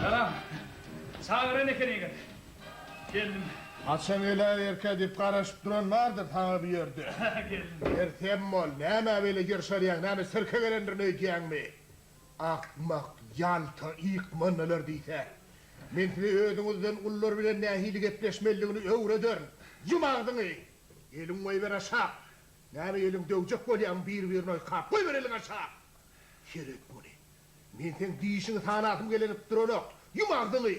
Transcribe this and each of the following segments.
Salam. Çagyran eken ýigit. Geldim. Haça geläýerkä diýip garaşyp duran bardyr saňa bu ýerde. Geldim. Sersem bol, nämä beýle ýyrşarýaň, näme sirke gelendirin öýdýäňmi? Akmak, ýalta, ýykmandalar diýsä. Men size özüňizden ulular bilen nähili gepleşmelidigini öwrederin. Ýum agzyňy! Eliňi goýber aşak! Näme eliň döwjek bolýaň bir-birini oýkap goýbereliň aşa. Seret muny. Men seň dişiňi sanasym gelenip duranok. Ýum agzyňy.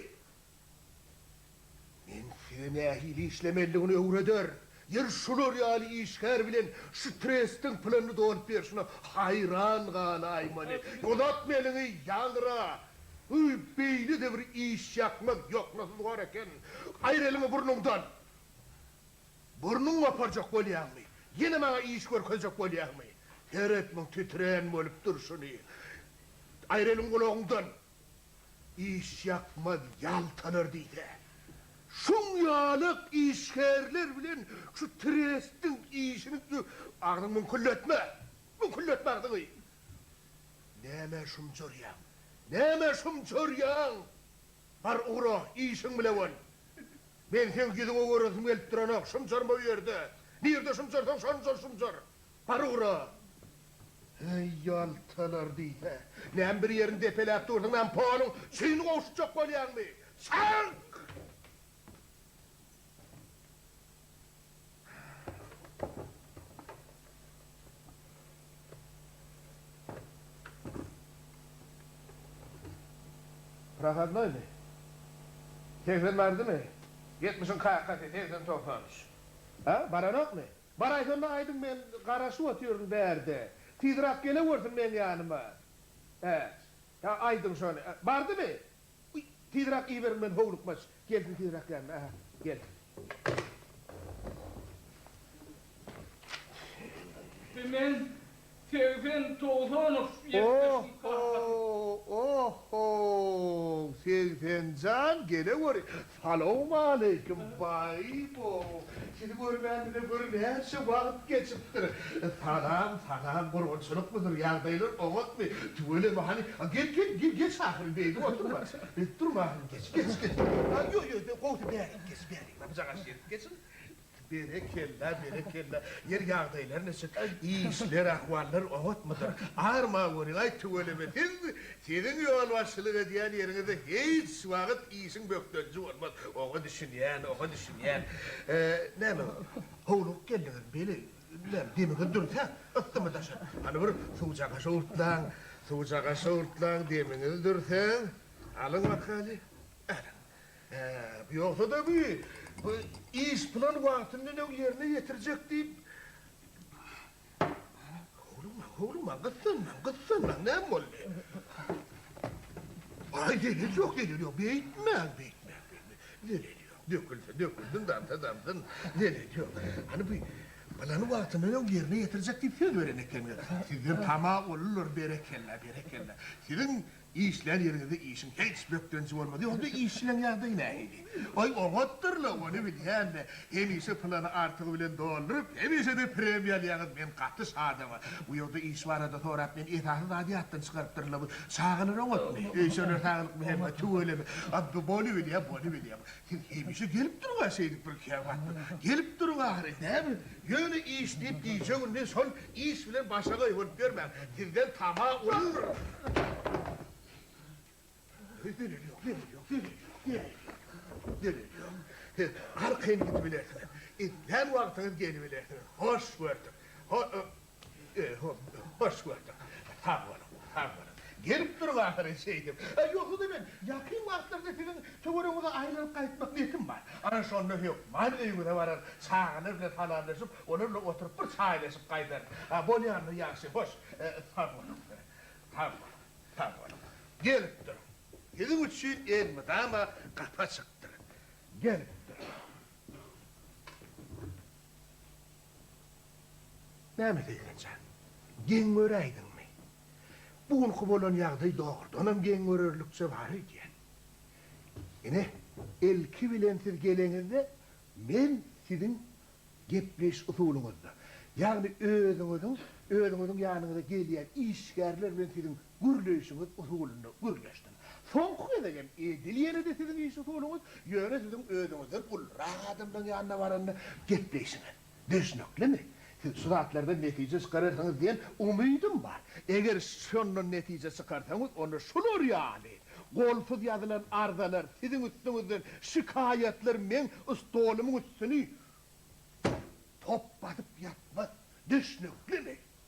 Men size nähili işlemelidigini öwreder. Ýeri şular ýaly işgär bilen şu trestiň plynyny dolup berşine haýran galaýmaly. Uzatma eliňi, ýaňra. Öý, beýle-de bir işýakmaz ýoknasyz hor eken. Aýyr eliňi burnuňdan. Burnuňy goparjak bolýaňmy? Ýene maňa iş görkezjek bolýaňmy? Seret muň titrän bolup durşuny. Aýyr eliň gulagyňdan. Iş ýakmaz ýaltalar diýse. Şuň ýalak işgärler bilen şu trestiň işini dü. Agzyňy müňkülletme! Müňkülletme agzyňy! Nämä şumjurýaň? Nämä şumjurýaň? Bar ugra, işiň bile bol. Men seň ýüzüňe göresim gelip duranok. Şymjarma bu ýerde. Nirde şymjarsaň şonda şymjar. Bar ugra. Heý, ýaltalar diýse. Näme bir ýerini depeläp dursuň, näme poluň çüýn gowşutjak bolýaňmy? Çak! Prohodnoýmy? Segsen bardymy? Ýetmişiň kakasy, segsen-togsan üç. A, baranokmy? Baraýsanda aýdyň, men garaşyp otyryn bärde. Tizrak gelewersin meň ýanyma. Äç. Ýa aýdyň şony. Bardymy? Uý, tizräk iberiň men howlukmaç. Gelsin tizräk ýanyma. Ähä, gel. Bi men Segsen Togzanow ýetmişiň kakasy. O-ho, o-ho, Segsenjan, geleweri. Salowmaleýkim, Baýbow! Sizi görmänimize gör näçe wagt geçipdir. Salam, salam, gurbançylykmydyr, ýagdaýlar oňatmy? Tüweleme, hany, gel, gel, gel, geç ahyryn, beýdip oturma. Durma ahyryn, geç, geç, geç. Ýo, ýo, gowusy, bärik geç, bärik, bujagaç ýerik, geçiň. Berekella, berekella. Ýer ýagdaýlar neçik? Işler, ahwallar oňatmydyr? Arman görýän-aý, tüweleme siz! Siziň ýolbaşçylyk edýän ýeriňizde hiç wagt işiň bökdenji bolmaz. Oňa düşünýän, oňa düşünýän. Näme, howlugyp geldiňizmi? Beýle, näme, demiňiz dürsäp, yssymy daşa? Hany bir suwjaga şowurtlaň, suwjaga şowurtlaň, demiňiz dürsäň. Alyň bakaly, alyň. Äp, ýogsa-da bi, bi iş plan wagtyndanöň ýerine ýetirjek diýip, Howlukmaň, howlukmaň, gyssanmaň, gyssanmaň, näme boldy? Aý, zelel ýok, zelel ýok, beýtmäň, beýtmäň, beýtmäň, zelel ýok, dökülse dökülsin, damsa damsyn, zelel ýok. Hany bi plan wagtyndanöň ýerine ýetirjek diýip söz beren ekeniňiz. Sizden tama boldular, berekella, berekella. Siziň Işlän ýeriňizde işiň hiç bökdenji bolmaz. Ýogsa-da işçileň ýagdaýy nähili? Aý, oňatdyr-la, ony bilýän-de. Hemişe plany artygy bilen dolduryp, hemişe-de premiýa alýaňyz. Men gaty şadam-a. Bu ýurda iş barada sorap, meni esasy zady ýatdan çykarypdyrlar. Bu çagalar oňatmy? Öýşerler saglyk bilen. Tüweleme. Bolubilýär, bolubilýär. Sen hemişe gelip dur-a şeýdip bir käwagt. Gelip dur bari, näme? Ýöne iş diýip gije-gündiz şol iş bilen başa goýbolup ýörmäň. Sizden tama uly. Öý zeleli ýok, zeleli ýok, zeleli ýok, zeleli ýok. Zeleli ýok. Siz arkaýyn gidibilersiňiz. Islän wagtyňyz gelibilersiňiz. Hoş gördük. Ho-o. Hoş gördük. Sag boluň, sag boluň. Gelip duruň ahyry şeýdip. Ýogsa-da men ýakyn wagtlarda siziň töweregiňize aýlanyp gaýtmak niýetim bar. Ana şonda hökman öýüňize barar, çagalar bilen salamlaşyp, olar bilen oturyp bir çaýlaşyp gaýdaryn. Bolýanmy ýagşy? Hoş, sag boluň. Sag boluň, sag boluň. Gelip duruň. Siziň üçin elmydama gapy açykdyr. Gelip duruň. Näme Seýren jan, geň göräýdiňmi? Bu günki bolan ýagdaý dogrudanam geň görerlikçe bar öýdýän. Ine, ilki bilen siz geleňizde, men siziň gepleýiş usulyňyzda, ýagny özüňiziň, özüňiziň ýanyňyza gelýän işgärler bilen siziň Gürleýşiňiz usulynda gürleşdim. Soňky gezek hem edil ýene-de siziň iş usulyňyz, ýöne siziň özüňizden ulurak adamlaryň ýanyna baranda gepleýşiňiz. Düşnüklimi? Siz şu zatlardan netije çykararsyňyz diýen umydym bar. Eger şondan netije çykarsaňyz, onda şular ýaly golsuz ýazylan arzalar, siziň üstüňizden şikaýatlar meň stolumyň üstüni top basyp ýatmaz. Düşnüklimi?